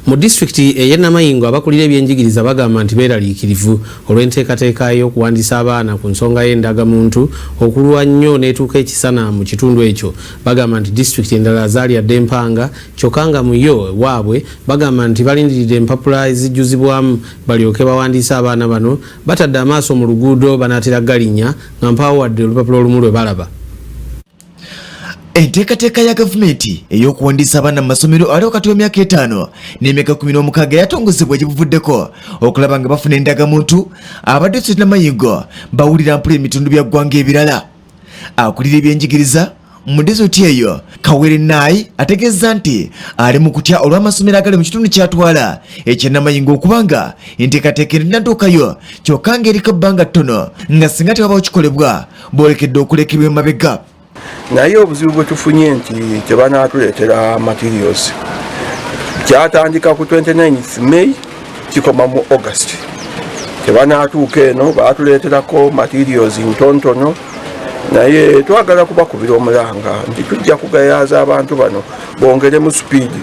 Mu disitulikiti ey'e Namayingo abakulira ebyenjigiriza bagamba nti beeraliikirivu olw'enteekateeka ey'okuwandiisa abaana ku nsonga y'endagamuntu okulwa nnyo n'etuuka ekisana mu kitundu ekyo. Bagamba nti disitulikiti endala zaalya dda empanga kyokka nga mu yo ewaabwe bagamba nti balindiridde empapula ezijjuzibwamu balyoke bawandiise abaana bano batadde amaaso mu luguudo banaatera galinnya nga mpaawo wadde olupapula olumu lwe balaba. Enteekateeka ya gavumenti ey'okuwandiisa abaana mu masomero ali wakati w'emyaka etaano n'emyaka kumi n'omukaaga yatongozebwa gye buvuddeko okulaba nga bafuna endagamuntu abadde sirina mayingo bawulira mpula ebitundu bya ggwanga ebirala akulira ebyenjigiriza mu dizoti eyo kawere naayi ategeezza nti ali mu kutya olw'amasomero agali mu kitundu kyatwala ekyenamayingo okubanga enteekateeka erinatuukayo kyokka ng'eriko ebbanga ttono nga singa tewabawo kikolebwa boolekedde okulekerwa emabega naye obuzibu bwe tufunye nti kyebanaatuleetera materials kyatandika ku 29 may kikoma mu august kyebanaatuuka eno baatuleeterako materials ntontono naye twagala kubakubira omulanga nti tujja kugayaaza abantu bano bongeremu sipiidi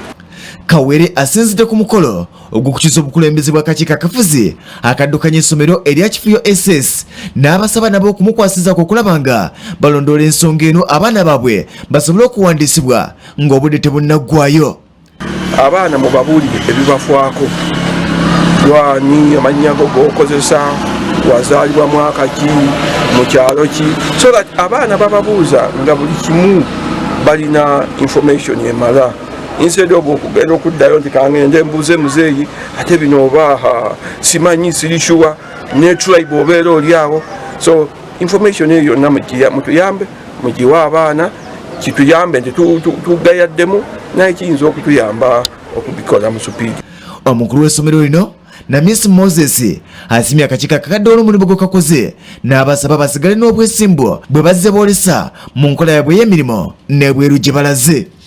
kawere asinzidde ku mukolo ogw'okukyusa obukulembeze bw'akakiiko akafuzi akaddukanya essomero erya kifuyo ss n'abasaba nabo okumukwasizaako okulaba nga balondoola ensonga eno abaana baabwe basobole okuwandiisibwa ng'obudde tebunnaggwayo abaana mubabuulire ebibafaako gwani amannya go gokozesa wazaalibwa mwaka ki mu kyalo ki so that abaana bababuuza nga buli kimu balina information emala instead of okugenda okuddayo nti kangende mbuuze muzeeyi ate bino oba simanyi sirishuwa ne tribe obeera oli awo so information eyo yonna mutuyambe mugiwe abaana kituyambe nti tugayaddemu naye kiyinza okutuyamba okubikola mu supiidi omukulu w'essomero lino na miss moses asimye akakiiko akakadde olw'omulimu gwe kakoze n'abasaba basigale n'obwesimbu bwe bazze boolesa mu nkola yabwe ey'emirimu n'ebweru gye balaze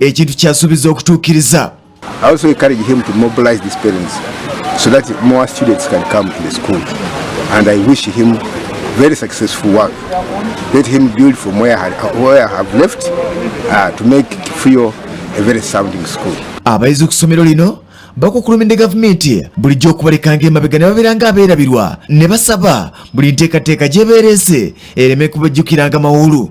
ekintu kyasuubiza okutuukiriza so that more students can come to the school and I wish him very successful work. Let him build from where I, where I have left uh, to make Frio a very sounding school. Abayizi ku ssomero lino bakukulumidde gavumenti bulijjo okubalekanga emabega ne babeera nga abeerabirwa ne basaba buli nteekateeka gyebeereese ereme kubajjukiranga mawulu.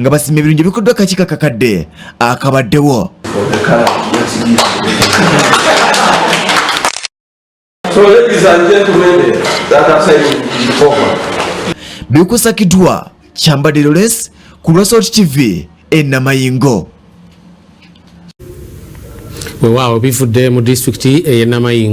nga basima ebirungi ebikoddwa kakiiko akakadde akabaddewo bikusakiddwa kyambadde loles ku lwa salt tv enamayingo wewaawo bivudde mu disitulikiti eyenamayingo